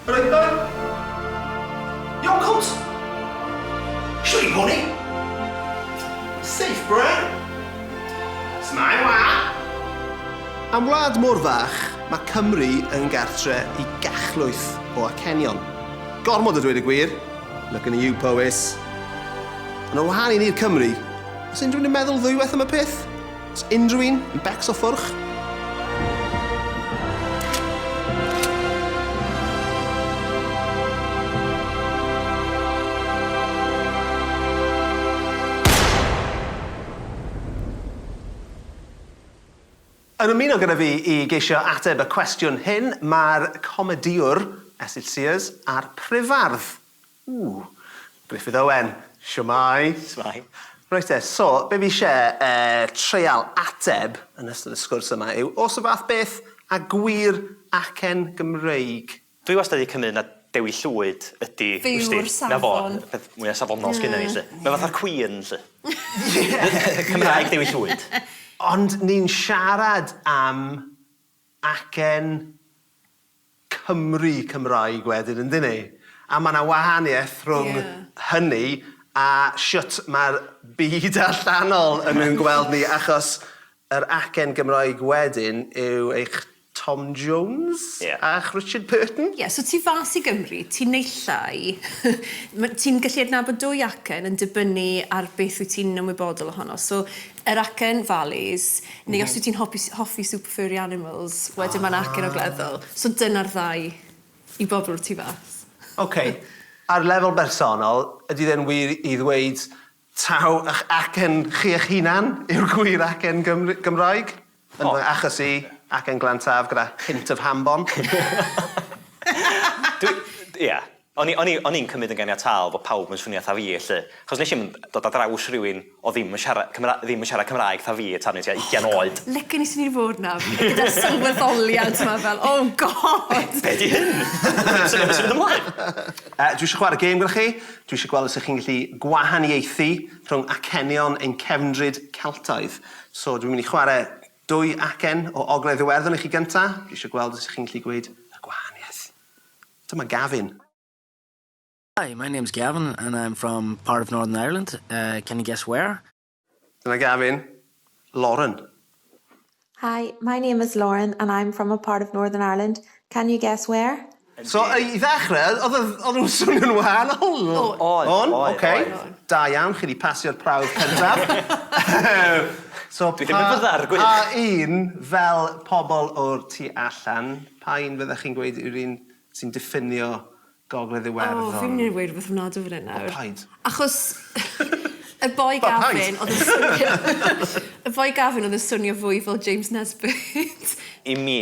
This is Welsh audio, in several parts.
Roedden? Iawn cwt? Siwr i poni? Safe bren? Smile wa? Am wlad mor fach, mae Cymru yn gartre i gachlwyth o acenion. Gormod o dweud y gwir, looking at you Powys. Ond ar wahân i ni'r Cymry, os unrhywun yn meddwl ddwywaith am y peth, Oes unrhyw un yn becso ffwrch? Yn ymuno gyda fi i geisio ateb y cwestiwn hyn, mae'r comedïwr Esyll Sears a'r Prifardd Ww! Gruffydd Owen, shwmae? Shwmae. Reit te, so, be fi isie eh, treial ateb yn ystod y sgwrs yma yw, o's y fath beth a gwir acen Gymreig? Dwi wastad 'di cymyd na Dewi Llwyd ydi, wsdi, 'na fo, Fyw'r safon. y peth mwya safonol sgynnon ni 'lly. Mae fatha'r Queen 'lly. Cymraeg Dewi Llwyd. Ond ni'n siarad am acen Cymry Cymraeg wedyn yndyn ni? A ma' 'na wahaniaeth rhwng... Ie. ...hynny a shwt ma'r byd allanol yn ein gweld ni achos yr acen Gymraeg wedyn yw eich Tom Jones... Ie. ...a'ch Richard Burton. Ie so tu fas i Gymru ti'n neu' llai ma' ti'n gallu adnabod dwy acen yn dibynnu ar beth wyt ti'n ymwybodol ohono so yr acen valleys, neu os wyt ti'n hopi, hoffi super furry animals, wedyn mae'n acen ogleddol. So dyna'r ddau i bobl o'r tu fas. Ok, ar lefel bersonol, ydy fe'n wir i ddweud taw ych acen chi eich hunan yw'r gwir acen Gymr- Gymraeg? Yn fy achos i, ac yn Glantaf gyda hint of ham bom. Dwi, ia. O'n i, o'n i, o'n i'n cymryd yn ganiataol bod pawb yn swnio 'tha fi 'lly. Achos nes i'm dod ar draws rhywun oedd ddim yn siarad Cymra- ddim yn siarad Cymraeg 'tha fi tan o'n i tua ugian oed. Licen i swn i 'di bod 'na, gyda'r sylweddoliad 'ma fel, oh God! Be, be 'di hyn? Sut ma' hyn yn mynd ymlaen? Yy, dwi isio chwarae gêm gyda chi. Dwi isio gweld os 'ych chi'n gallu gwahaniaethu rhwng acenion ein cefndryd Celtaidd. So dwi'n mynd i chwarae dwy acen o Ogledd Iwerddon i chi gynta', dwi isio gweld os 'ych chi'n gallu gweud y gwahaniaeth. Dyma Gavin. Hi, my name's Gavin and I'm from part of Northern Ireland, uh, can you guess where? Dyna Gavin. Lauren. Hi, my name is Lauren and I'm from a part of Northern Ireland, can you guess where? So, i ddechrau, oedd- oedd- oedden nhw'n swnio'n wahanol? O'n. O'n? O'n, ok. Oedd, oedd. Da iawn, chi 'di pasio'r prawf cyntaf. So, pa... Dwi ddim yn fy ddargwydd! Pa un, fel pobl o'r tu allan, pa un fyddech chi'n gweud yw'r un sy'n diffinio Gogledd Iwerddon. O, fi'n mynd i weud rhywbeth ofnadw fan hyn nawr. O, paid. Achos y boi Gavin oedd yn swnio... O, paid! ...y boi Gavin oedd yn swnio fwy fel James Nesbitt. I mi,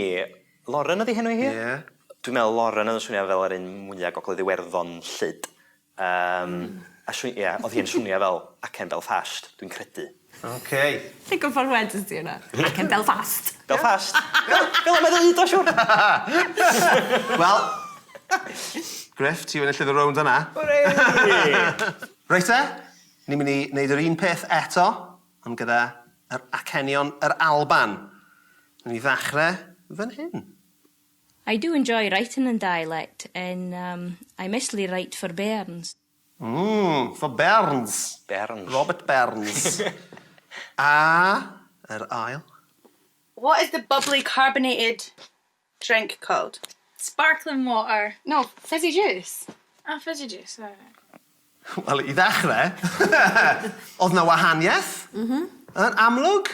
Lauren ydi henw hi? Ie. Dwi'n meddwl Lauren oedd yn swnio fel yr un mwya Gogledd Iwerddon 'lly. Yym, a sw- ie, oedd hi'n swnio fel acen Belfast, dwi'n credu. Ok. Ti'n gwybod wedest ti hwnna? Ac yn Belfast. Belfast? Fel 'na mae ddeud o siwr! Wel, Gruff, ti enillydd y rownd yna. Hwrei! Reit te, ni'n mynd i wneud yr un peth eto, ond gyda yr acenion yr Alban. Newn ni ddechrau fan hyn. I do enjoy writing in dialect and umm I mostly write for bairns. Ym fy Burns. Burns. Robert Burns. A yr ail? What is the bubbly carbonated drink called? Sparkling water. No, fizzy juice. Ah, fizzy juice, ie. Wel, i ddechrau, oedd 'na wahaniaeth, yn amlwg.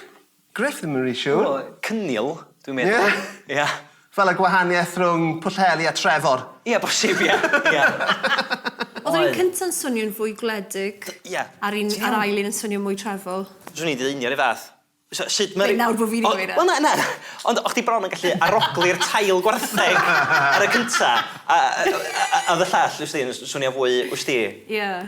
Gruff ddim yn ry siwr. Wel, cynnil, dwi'n meddwl. Ie? Ie. Fel y gwahaniaeth rhwng Pwllheli a Trefor. Ie, bosib, ie. Ie. Oedd yr un cynta'n swnio'n fwy gwledig. D- ie. A'r un... Ti'n iawn? ...a'r ail un yn swnio mwy trefol. Swn i'n deud union 'r un fath. So sut ma' ry-... Be' nawr bo' fi 'di gweud e? O wel na na ond o' chdi bron yn gallu arogli'r tail gwartheg ar y cynta a a a a o'dd y llall wsdi yn s- swnio fwy wsdi... Ie.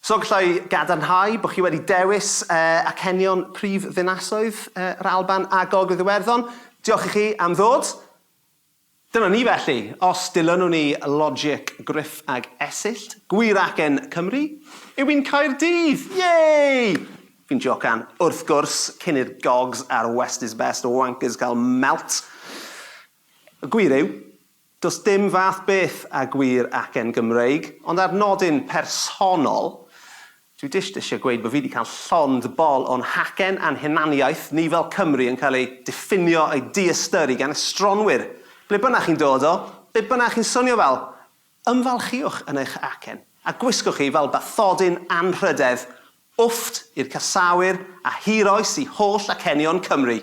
So gallai gadarnhau bod chi wedi dewis acenion prif ddinasoedd yr Alban a Gogledd Iwerddon. Diolch i chi am ddod. Dyna ni felly, os dilynwn ni logic Gruff ag Esyllt, gwir acen Cymru yw un Caerdydd! Yay! Fi'n jocan, wrth gwrs, cyn i'r Gogs a'r West is Best wankers cael melt. Y gwir yw, Does dim fath beth a gwir acen Gymreig, ond ar nodyn personol, dwi jyst eisiau gweud bod fi 'di cael llond bol o'n hacen a'n hunaniaeth ni fel Cymry yn cael ei diffinio a'i diystyru gan estronwyr, ble bynnag chi'n dod o, be bynnag chi'n swnio fel. Ymfalchiwch yn eich acen, a gwisgwch hi fel bathodyn anrhydedd. Wfft i'r casáwyr a hir oes i holl acenion Cymru!